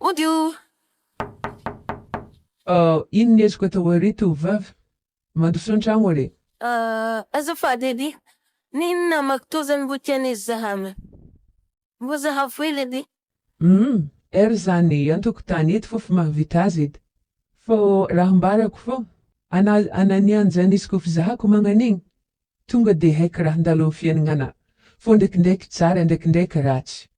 Odio! Oh, iny ny ezoko atao ery tovovavy. Mandroso an-tragno anie. Ah, azafady anie. Nino namako tô zany mbo tiany hizahana. Mbo zahavo hely anie. Humm, er zany an-tokotany eto fofo mahavita azy edy. Fô raha ambarako fô, ana ana ny anjany izy kô fizahako magnan'igny, tonga de haiky raha handalo am fiainagnanà. Fô ndraikindraiky tsara, ndraikindraiky ratsy.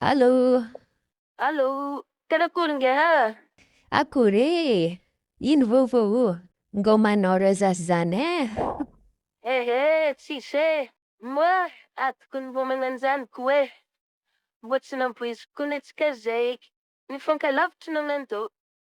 Allô. Allô. Tena akory nge ah. Akory eh. Ino vaovao o. Ngao manao resas zany eh. Eh eh tsisy eh. Moa atoko ny homana an'izany ko eh. Mboa tsy namboiziko koa netsika zay. Nifankalavitry no nandoa.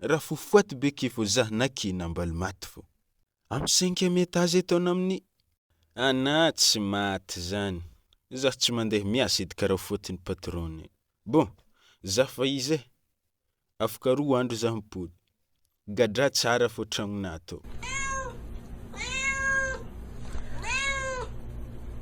Ra fo foaty be ke vo zah na ke nambaly maty vo. Am cinquième étage eto an am ny. Ana tsy maty zany. Zah tsy mandeha miasa edy karaha faute ny patron e. Bon, zah fa izy e. Afaka roa andro zah mipody. Gadraha tsara fo tragnonah to.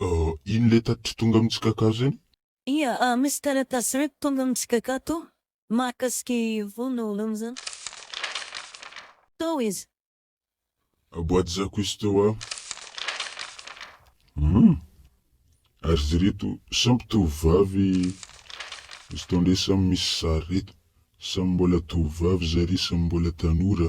Euh ino le tatitry tonga mitsy kaka zany? Ia ah misy taratasy iray tonga mitsy kaka to mahakasika i Vono Rano zany. Tao izy. Boîte zako izy teo ah. Hum ary izy ireto samy tovovavy izy tao ndray samy misy sary reto. Samy mbola tovovavy zary samy mbola tanora.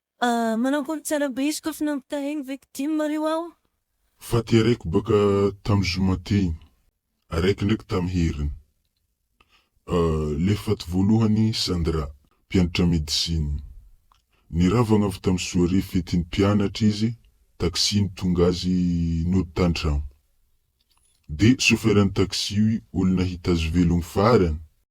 Manambola tsara be izy kôfa nampitahay ny victime reo aho. Fa ty araiky baka tam zoma teny, araiky ndraiky tam heriny. Euh le faty voalohany Sandra, mpianatra médecine. Niravagna avy tam soirée fetin'ny mpianatra izy, taxi nitonga azy nody tantragno. De chauffeur-n'ny taxi io olona hita azy velogno farany.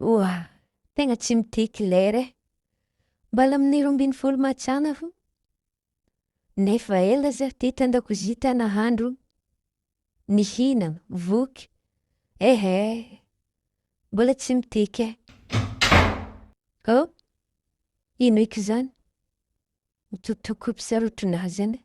Oa, tegna tsy mitia claire e! Mbala amin'ny roa ambin'ny folo mars any aho, nefa ela za teto an-dakozia ta nahandro, nihinagna, voky, ehe! Mbola tsy mitia ke! Oh! Ino eky zany? Tokotoko mpisarotra nahy zany e!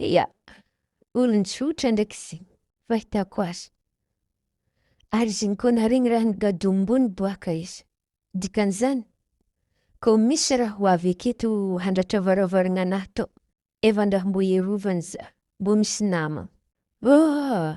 Ia, olon-tsotra ndraiky izy fahitako azy. Ary izy ny koa naharegny raha nigadom-bony boaka izy. Dikan'izany, koa misy raha ho avy aketo handratra varavaragnanà tao, efa andraho mbô iarovany za, mbô misy nama. Ôhh!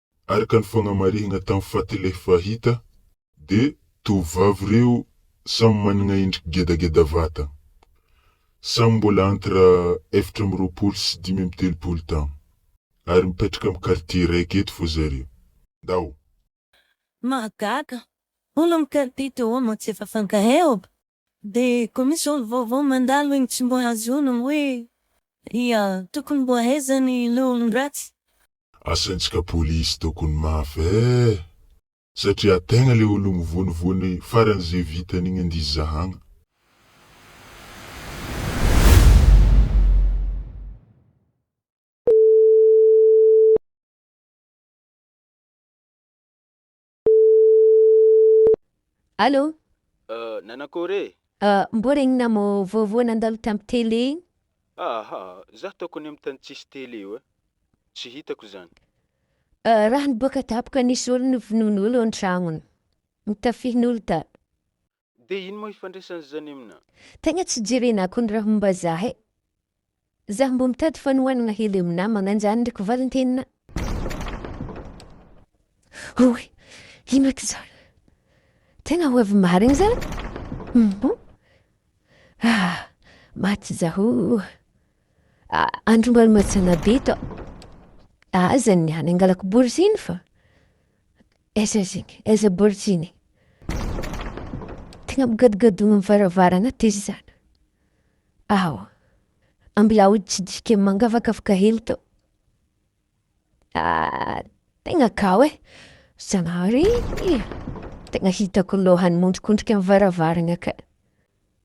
Araka ny fagnamarihagna tam faty leh fa hita de tovovavy reo samy managna endriky gedageda vata. Samy mbola entre efatra amby roapolo sy dimy amby telopolo taogno. Ary mipetraka am quartier raiky eto fô zareo. Ndao. Mahagaga! Olo am quartier teo ao no tsy efa fankaheob. Dia koa misy zao vaovao mandalo eny tsy mbola azonao hoe ia tokony mbo aiza ny le olondratsy. Asaintsika police tokony mafy eh! Satria tegna le ologno vonivony farany ze vitany igny ndizy zahagna. Allô? Euh, nanakôry e? Euh, mbô regnina mô vaovao nandalo tam télé igny? Aha, za taoko any am tany tsisy télé io e. Tsy hitako zany. Euh, raha niboaka tapoka nisy olo nivonon'olo an-tragnony. Nitafihin'olo tato. Dia ino moa ifandraisan'izany amina? Tegna tsy jerena kony raha momba zah e! Zah mbo mitady fanohanagna hely amy namagna anjany ndreky valintenina. Oy! Ino eky zany? Tegna ho avy marigny zany? Humm! Ah! Maty zah oh! Ah! Andro mbola matsagna be tô! Aza niany angalako bourse iny fa. Aiza izany? Aiza borichine? Tegna migadogadoa amin'ny varavarana aty zany. Awa, ambilao hitsidika mangavakavaka hely tao. Ah, tegna kao e! Zanahary, tegna hitako lohany miondrikondrika amin'ny varavarana ka.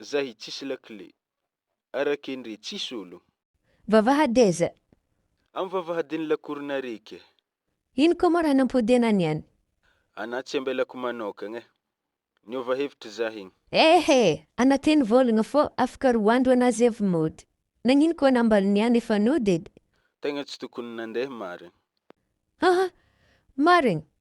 Zahy tsisy lakile. Arake ndre tsisy ologno. Vavahady aiza? Am vavahadin'ny lakorona reky e. Ino ko mo raha nampodiana ny any? Ana tsy ambelako manokagna e. Niova hevitra zah igny. Ehe! Ana teny volagna fô afaka roa andro ana zay vao mody. Nagnino koa ana ambal ny any efa nody edy? Tegna tsy tokony nandeha marigny. Haha! Marigny!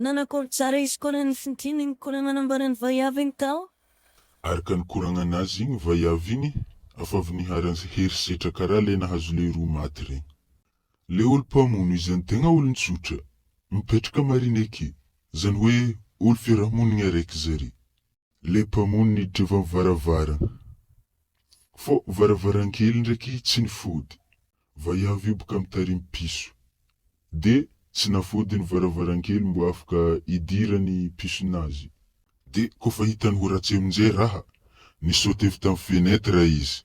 Nanakory tsara izy koa raha nifintin'ny nikoragna nanambara ny vaiavy igny tao. Araka ny koragnana azy igny vaiavy igny afa avy niharan'ny herisetra karaha le nahazo lehiroa maty regny. Le olo mpamono izy any tegna olon-tsotra, mipetraka marina eke, zany hoe olo fiarahamonigny araiky zare. Ilay mpamono ny Jehovah amin'ny varavarana. Fô varavarankely ndraiky tsy nifody. Vaiavy io boka mitarimy piso. De tsy nafody ny varavarankely mbô afaka idirany pisonazy. De kôfa hitany ho ratsy aminjay raha, ni-saute avy tam fenêtre izy.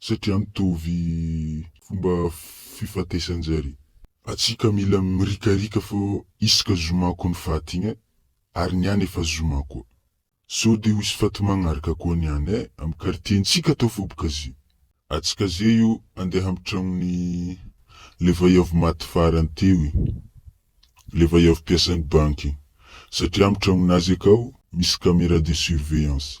satria mitovy fomba fifatesan-jare. Atsika mila mirikarika fa isaka zoma koa ny faty igny eh, ary ny any efa zoma koa. Sao de ho hisy faty magnaraka koa ny any eh, am quartier-ntsika atao fo boka zay. Atsika zay io andeha am tragnon'i le vaiavy maty farany teo igny, le vaiavy mpiasan'ny banky igny, satria am tragnonazy akao misy camera de surveillance.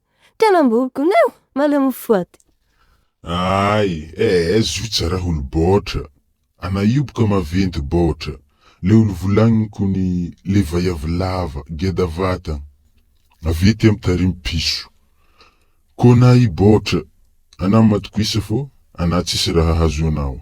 Tena mborgona eo, maleo mifoady. Ay eh zut za raha olo baotra ana io boka maventy baotra le olo volagniny kony le vaiavy lava geda vatan avy ety am tarim piso kona i baotra ana matokisa fô ana tsisy raha hahazo anao.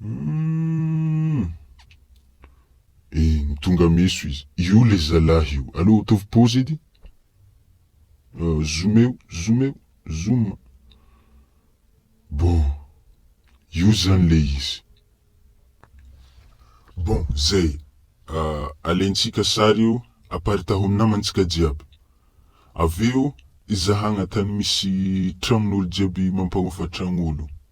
Humm. Eny, tonga meso izy. Io le zalahy io. Aleo ataovy pause edy. Zoomeo, zoomeo, zoom. Bon. Io zany le izy. Bon, zay. Alaintsika sary io, aparitaho amin'ny namantsika jiaby. Avy eo, ezahagna tany misy tragnon'olo jiaby mampanofa tragnolo.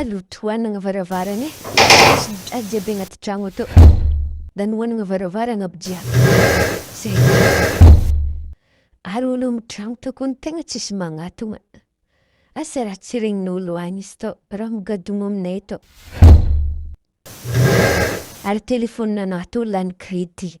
Aleo tohanana varavarana e! Tsy jadona jiaby anaty trano ato. Nanohanana varavarana aby jiaby. Zay ihany. Ary olo mitrangotra koa ny tegna tsisy magnatogna. Asa raha tsy regnin'olo any izy tô, raha migadogno aminay tô. Ary telefaoninanà tô lany crédit.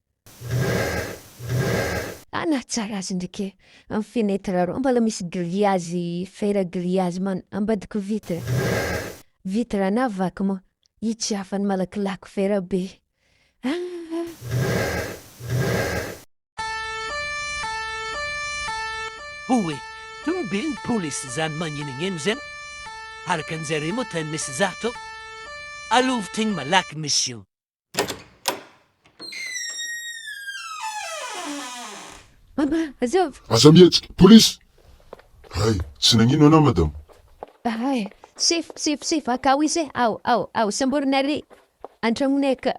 Ah nahatsara azy ndreky e! Am fenetre arô mbala misy grillage fer grillage man ambadika vitre. Vitre ana vaky moa hitsihafany malakilaky fer be. Houe, tomobilin'ny polisy izany magninognino izany? Araka anjareo moa tany misy za tô, alovo tegna malaky mission. Mama, azovy. Aza mihetsika, polisy! Hay, tsy nagnino anao madame. Hay, sefo, sefo, sefo, akao izy e, ao, ao, ao, samborina ary an-tragnonay ka.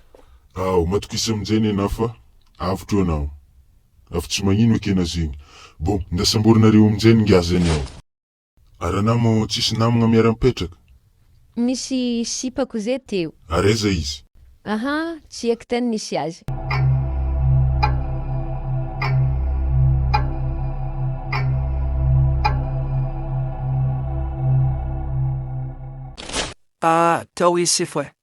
Ao, matokisa amin'izay nenà fa avotra eo anao. Avy tsy magnino ekena zegny. Bon, nda samborinareo amin'izay ny ngazany ao. Ary anao mo tsisy namagna miara mipetraka? Misy sipako ze teo. Ary aiza izy? Aha, tsy haiko tany nisy azy. Tao izy sy foe.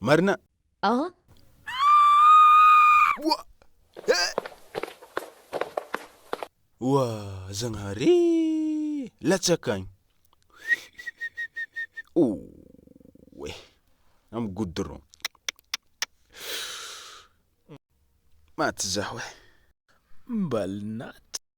Marina. An? Oa! He! Oa! Zagnahary ee! Latsaka agny! Oe! Amy goudron. Maty zaho e! Mbalinat.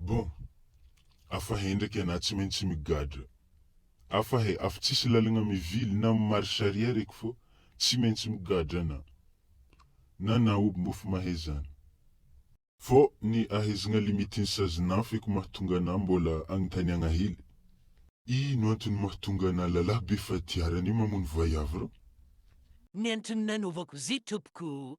Bon. Afa he ndraiky ana tsy maintsy migadra. Afa he afa tsisy lalagna mivily na mi marche arrière eky fô tsy maintsy migadra ana. Na na oby mbô fa mahe zany. Fô ny ahezagna limite ny sazinà feky mahatonga anà mbôla agnotaniagna hely. Ino antony mahatonga ana lalah be fatiarana io mamono vaiavy rô? Miantrano nanaovako zay tompoko.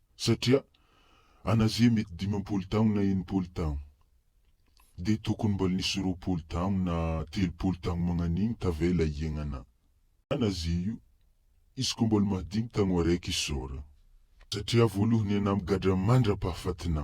satria an Azia mety dimampolo taon na enimpolo taon dia tokony mbola nisy roapolo taon na telopolo taon magnan'igny tavela iaignana an Azia io izy ko mbola maha dimy taogno araiky isaora satria voalohany an am gadra mandra pahafatina.